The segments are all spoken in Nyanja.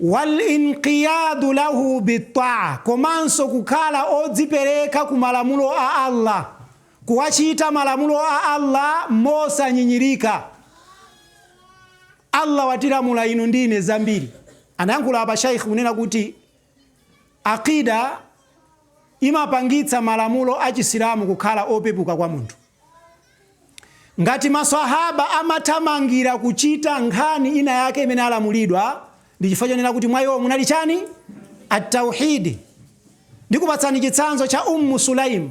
Wal-inqiyaadu lahu bit-ta'a, komanso kukhala odzipereka ku malamulo a Allah, kuwachita malamulo a Allah mosanyinyirika. Allah watilamula inu ndi ine zambiri. Anayankhula apa Shaikh kunena kuti. Aqeeda imapangitsa malamulo a Chisilamu kukhala opepuka kwa munthu. Ngati ma Swahaba amathamangira kuchita nkhani ina yake imene alamulidwa, ndi chifukwa chonena kuti mwa iwo munali chani? At-Tauheed. Ndikupatsani chitsanzo cha Umm Sulaym.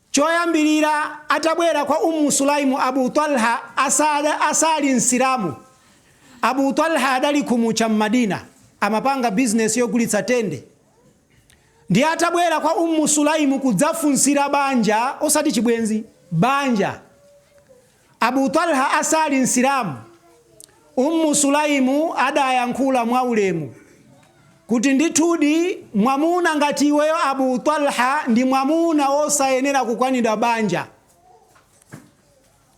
Choyambirira atabwera kwa Umm Sulaym Abu Talha asali Msilamu, Abu Talha adali khumucha m'Madina, amapanga bizinesi yogulitsa tende. Ndiye atabwera kwa Umm Sulaym kudzafunsira banja osati chibwenzi, banja. Abu Talha asali Msilamu, Ummu Sulaym adayankhula mwaulemu kuti, Ndithudi mwamuna ngati iweyo Abu Talha ndi mwamuna wosayenera kukanidwa banja.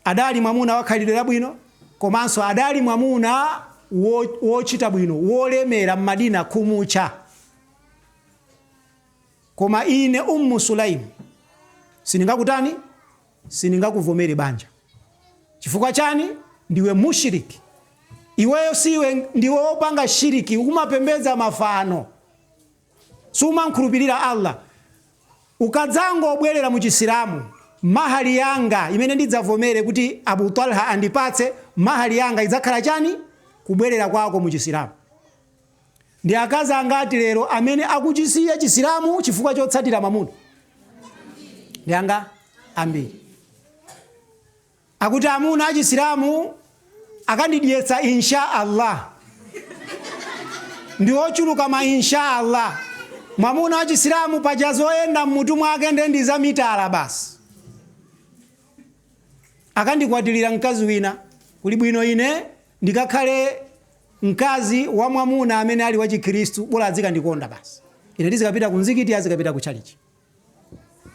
Adali mwamuna wa khalidwe labwino komanso adali mwamuna wochita bwino, wolemera m'Madina khumucha. Koma ine Ummu Sulaym sindingakutani? sindingakuvomere banja chifukwa chani ndiwe mushrik iweyo siwe ndiwe opanga shiriki umapembedza mafano sumankhulupirira Allah ukadzangobwerera mu chisilamu mahali yanga imene ndidzavomere kuti Abu Talha andipatse mahali yanga idzakhala chani kubwerera kwako mu chisilamu Ndi akazi angati lero amene akuchisiya Chisilamu chifukwa chotsatira mamuna? Ndi angati? Ambiri. Akuti amuna a Chisilamu akandidyetsa insha Allah. Ndi ochuluka ma insha Allah. Mwamuna wa Chisilamu paja zoyenda mmutu mwake nde ndi za mitala basi. Akandikwatilira mkazi wina kuli bwino ine Ndikakhale mkazi wa mwamuna amene ali wachikhiristu, bola adzikandikonda basi. Ine ndizikapita ku mzikiti, iye azikapita ku tchalitchi.